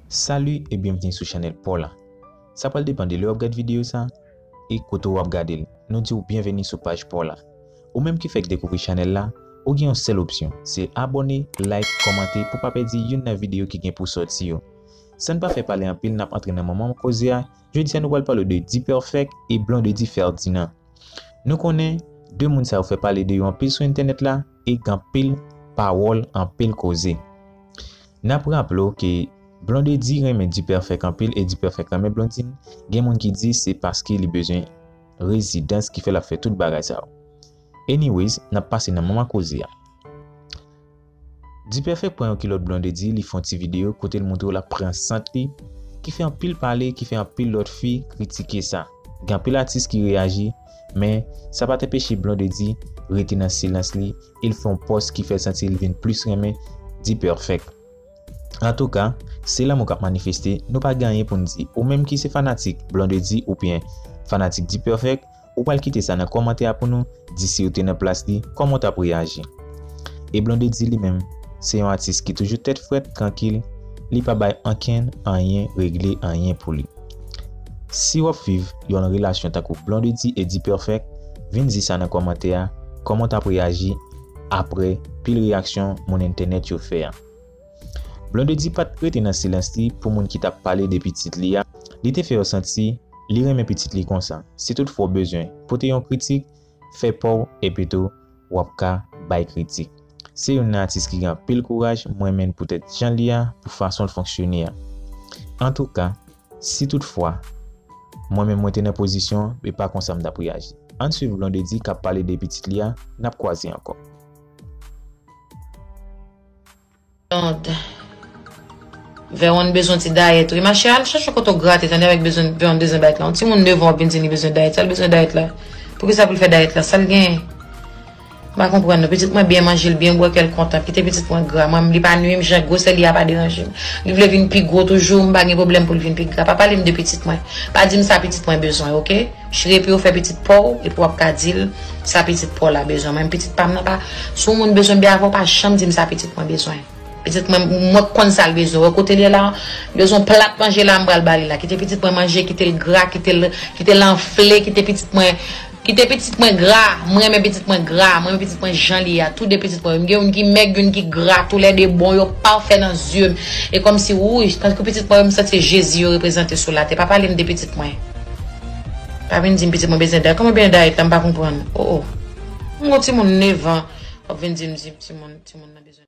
Salut et bienvenue sou chanèl paw la. Sa pral depan de lè wap gad video sa e kote ou ap gadel. Nou diw bienvenue sou paj paw la. Ou menm ki fèk dekouvri chanèl la, ou gen yon sèl opsyon, se abòne, like, kòmante pou pa pèdi youn nan video ki gen pou sòti yo. Sann pa fè pale anpil nap antre nan manman koze a, jodia nou pral pale de D-Perfect e Blondedy Ferdinand. Nou konnen, 2 moun sa yo fè pale de yo anpil sou entènèt la, e k anpil pawòl anpil koze. N ap raple w ke Blondedy renmen Dperfect anpil e Dperfect renmen Blondine, gen moun ki di se paske li bezwen rezidans ki fè l ap fè tout bagay sa yo. Anyways, n ap pase nan manman koze a. Dperfect pran yon kilòt Blondedy li fè yon ti videyo kote l montre w l ap pran sant li ki fè anpil pale, ki fè anpil lòt fi kritike sa. Gen anpil atis ki reyaji. Men, sa pat enpeche Blondedy rete nan silans li e l fè yon pòs ki fè l santi l vin plis renmen D-Perfect. Antouka, se lanmou k ap manifeste, nou pa gen anyen pou n di. Ou menm ki se fanatik Blondedy oubyen fanatik D-Perfect, ou pral kite sa nan kòmantè a pou nou di si w te nan plas li, kòman w t ap reyaji? E Blondedy li menm, se yon atis ki toujou tèt frèt, trankil, li pa bay ankenn anyen regle anyen pou li. Siw ap viv yon relasyon tankou Blondedy et D-Perfect vin di sa nan kòmantè a kòman w tap reyaji aprè pil reyaksyon moun entènèt yo fè a. Blondedy pat rete nan silans li pou moun ki tap pale de pitit li a, li te fè yo santi li renmen pitit li konsa, si toutfwa w bezwen pote yon kritik Fè paw epitou wap ka bay kritik. Se youn nan atis ki gen anpil kouraj m renmenn poutèt jan l ye a pou fason l fonksyone a. Antouka si tout fwa mwen menm mwen te nan pozisyon e pa konsa m tap reyaji. Ann swiv Blondedy kap pale de pitit li a nap kwaze ankò. Tand. Veronne bezwen ti dayèt wi machè al chache kote w grate tande avèk bezwen Veronne bezwen dayèt la yon timoun 9 ans vin di li bezwen dayèt sa l bezwen dayèt la poukisa pou l fè dayèt la sa l genyen m pa konprann non pitit mwen byen manje l byen bwè kè l kontan kite pitit mwen gra mwen li pa nwi m jan gwosè li a pa deranje m li vle vin pi gwo toujou m pa gen pwoblèm pou l vin pi gra pa pale m de pitit mwen pa di m sa pitit mwen bezwen ok. Chri epiw fè pitit paw epi wap ka dil sa pitit paw la bezwen mwen pitit pam nan pa si yon moun bezwen byen avèw pa janm dim sa pitit mwen bezwen pitit mwen mwen konn sal bezwen ou wè kotel ye la li bezwen plat manje la mpral bali la kite pitit mwen manje kitel gra kitel kitel anfle kite pitit mwen kite pitit mwen gra mrenmen pitit mwen gra mrenmen pitit mwen jan li ye a tou de pitit mwen yo mgen youn ki mèg youn ki gra tou lè de bon yo pafè nan zyem e kòmsi wouyy tankou pitit mwen yo msanti se jezi yo reprezante sou late pa palem de pitit mwen. Pa vin dim pitit mwen bezyen dayt. Koman bezyen dayt la mpa konprann. Oh oh. Mwen gon timoun 9 ans wap vin dim timoun nan bezyen.